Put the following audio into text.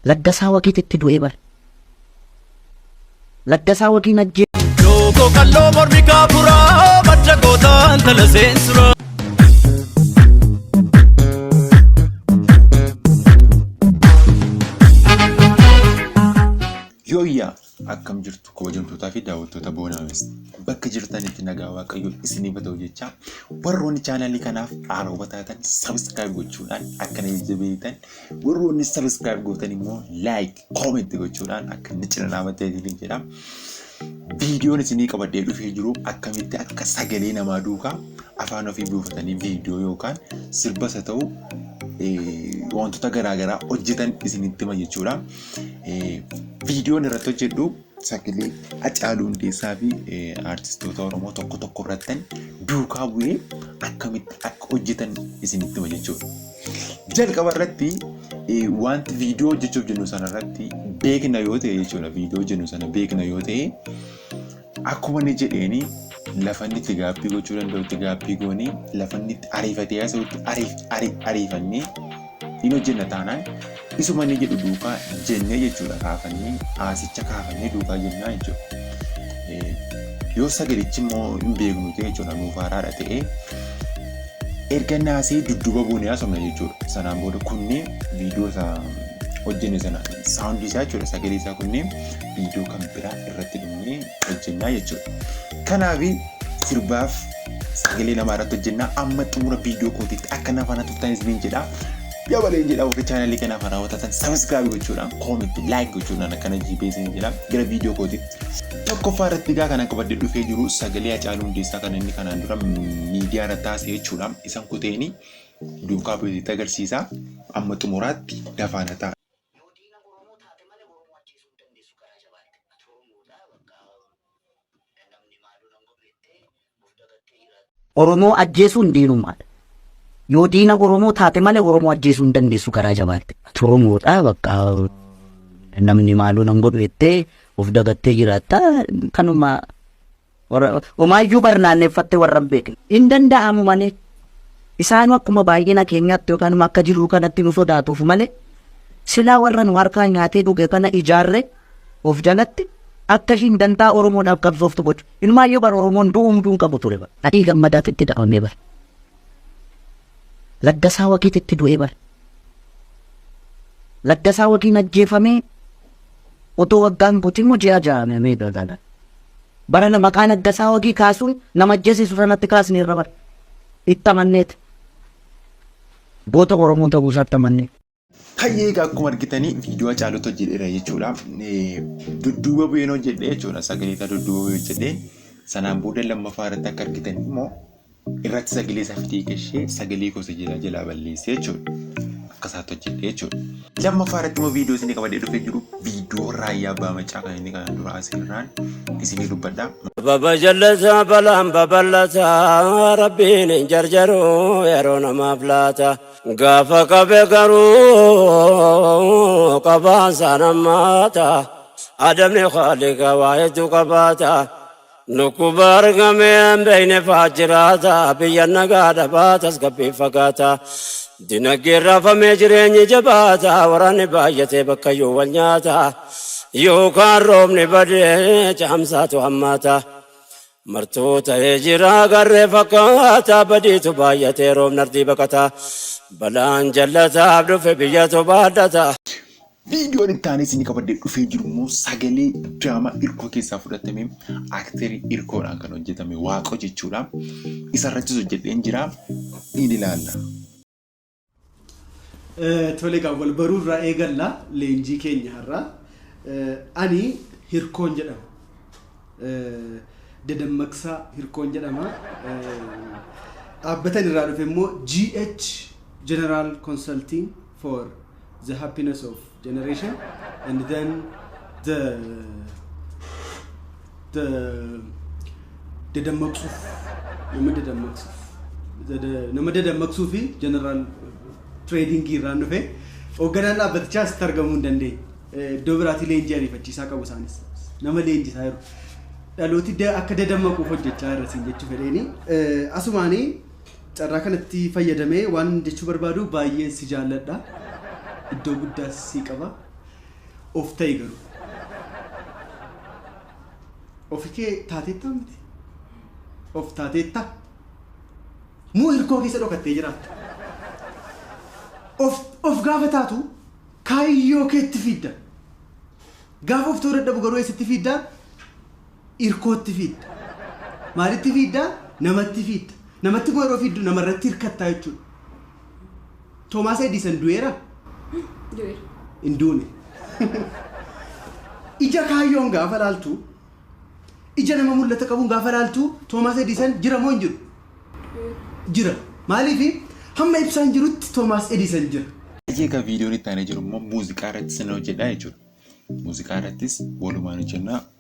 Laggasaa waqiit itti du'ee bar. Laggasaa waqiin ajjee. Lookoo qalloo mormi kaafuraa madda gootaan tala seensuraa. Yooyyaa Akkam jirtu kabajamtootaa fi daawwattoota Boonaames. Bakka jirtanitti nagaa waaqayyoo isiniif haa ta'u jechaa warroonni chaanaalii kanaaf haarawwa taatan sabiskiraayib gochuudhaan akka na jajjabeessitan warroonni sabiskiraayib gootan immoo laayik koomenti gochuudhaan akka na cina dhaabattan isiniin jedha. Viidiyoon isinii qabadhee dhufee jiru akkamitti akka sagalee namaa duukaa afaan ofii buufatanii viidiyoo yookaan sirbas haa ta'u eh, wantoota garaagaraa hojjetan isinitti hima jechuudha. viidiyoon irratti hojjedhu sagalee Hacaaluu Hundeessaa fi aartistoota Oromoo tokko tokko irratti duukaa bu'ee akkamitti akka hojjetan isinitti hima jechuudha. Jalqaba irratti wanti viidiyoo hojjechuuf jennu sana irratti beekna yoo ta'e jechuudha. Viidiyoo jennu sana beekna yoo ta'e Akkuma inni jedheeni lafa inni itti gaabbii gochuu danda'utti gaabbii goonee lafa inni itti ariifatee haasa'utti ariif- ari- ariifannee hin hojjenna taanaan isuma inni jedhu duukaa jennee jechuudha kaafannee haasicha kaafannee duukaa jennaa jechuudha. Eh, Yoo sagalichi immoo hin beeknu ta'e jechuudha nuuf haaraadha ta'ee erga naasee dudduuba buunee haasofna jechuudha. Sanaan booda kunneen viidiyoo isaa hojjenne sana saawundii isaa jechuudha sagalee isaa kunneen viidiyoo kan biraa irratti dhimnee hojjennaa jechuudha. Kanaaf sirbaaf sagalee namaa irratti hojjennaa amma xumura viidiyoo kootiitti akka na faana turtan isiniin jedha. Dabalee jedha warri chaanalii kanaaf haaraa hawwatan sabiskiraabii gochuudhaan koomitti laayik gochuudhaan akkana jiibee isiniin jedha gara viidiyoo kootiitti. Tokkoffaa irratti egaa kana qabadde dhufee jiru sagalee Hacaaluu Hundeessaa kan inni kanaan dura miidiyaa irratti taasise jechuudha. Isan kuteeni duukaa bu'eetti agarsiisa. Amma xumuraatti dafaana ta'a. Yoo diina oromoo taate malee oromoo ajjeesuu hin dandeessu garaa jabaadhu. Ati oromoodha bakka namni maaloo nan godhu jettee of dagattee jiraatta. Oromoo ajjeesuun diinummaadha. Yoo diina oromoo taate malee oromoo ajjeesuu hin dandeessu garaa jabaadhu. Ati oromoodha bakka namni maaloo nan godhu jettee of dagattee jiraatta kanuma Warra homaayyuu barnaanneeffattee warra hin beekne. Hin danda'amu malee. Isaanuu akkuma baay'ina keenyaatti yookaan immoo akka jiruu kanatti nu sodaatuuf malee silaa warra nu harkaa nyaatee dhuge kana ijaarre of jalatti akka ishiin dantaa Oromoodhaaf qabsooftu gochu. Ilmaayyuu bara Oromoon du'u hunduu hin qabu ture bara. Adii gammadaatti itti dhabamee bara. Laggasaa waqiitti itti du'ee bara. Laggasaa waqiin ajjeefamee otoo waggaan guutuu immoo ji'a ja'amee dha. Barana maqaa Naggasaa Wagii kaasuun nama ajjeesiisu sanatti kaasneerra bar. Itti amanneeti. Goota Oromoo ta'uu isaatti amannee. Hayyee egaa akkuma argitanii viidiyoo Hacaaluutu hojjedheera jechuudha. Dudduuba bu'een hojjedhe jechuudha. Sagalee isaa dudduuba bu'ee hojjedhe. Sanaan booda lammaffaa irratti akka argitan immoo irratti sagalee isaa fidee gashee sagalee gosa jira jalaa balleessee jechuudha. Akka isaatti hojjedhee jechuudha. Lammaffaa irratti immoo viidiyoo isin qabadee dhufee jiru viidiyoo raayyaa abbaa macaa kan inni kana dura asirraan isinii dubbadha. Baba jallata balaan babal'ata rabbiin hin jarjaru yeroo namaaf laata gaafa qabe garuu qabaan saanammaata adamni khaalika waa hedduu qabaata Dhukkuba argame hin beekne faa jiraata, biyya nagaa dhabaa tasgabbii fagaata. Dinagdeen raafamee jireenyi jabaata, waraanni baay'atee bakkayyuu wal nyaata. Yookaan roobni badee caamsaatu hammaata. Martuu ta'ee jira garree fakkaata, badiitu baay'atee roobni ardii baqata. Balaan jallataaf dhufe biyyatu baadhata. Viidiyoon itti aanee isin qabadde dhufee jiru immoo sagalee diraamaa irkoo keessaa fudhatame akterii irkoodhaan kan hojjetame waaqo jechuudha. Isarrattis hojjedheen jira. Ni ilaalla. Tole egaa wal baruu irraa eegalla leenjii keenya har'a. Ani Hirkoon jedhama. Dadammaqsaa Hirkoon jedhama. Dhaabbatan irraa dhufe immoo GH General Consulting for the happiness of generation and then the the dadammaqsuuf nama dadammaqsuuf the- the- nama dadammaqsuu fi general trading irraan dhufe hoogganaan dhaabbatichaas itti argamuu hin dandeenye Eh, iddoo biraatii leenjii ariifachiisaa qabu isaanis nama leenjisaa jiru dhalooti da- akka dadammaquuf hojjechaa irra siin jechuu fedheeni Eh, asumaanii Carraa kanatti fayyadamee waan jechuu barbaadu baay'een si jaalladha. Iddoo guddaas sii qaba. Of ta'i garuu. Ofi kee taateettaa miti? Of taateetta? Moo hirkoo keessa dhokattee jiraatta? Of, of gaafa taatu kaayyoo keetti fiidda. Gaafa of ta'uu dadhabu garuu eessatti fiidda? irkootti fiidda. Maalitti fiidda? Namatti fiidda. Namatti immoo yeroo fiiddu namarratti hirkattaa jechuudha. Toomaas Edisan du'eera? Du'eera. Hin duune. Ija kaayyoon gaafa laaltu, ija nama mul'ata qabuun gaafa laaltu, Toomaas Edisan jira moo hin jiru? Jira. Maaliifi? Hamma ibsaan jirutti Toomaas Edisan jira. Egaa viidiyoon itti aanee jiru immoo muuziqaa irratti sin hojjedha jechuudha. Muuziqaa irrattis walumaan hojjennaa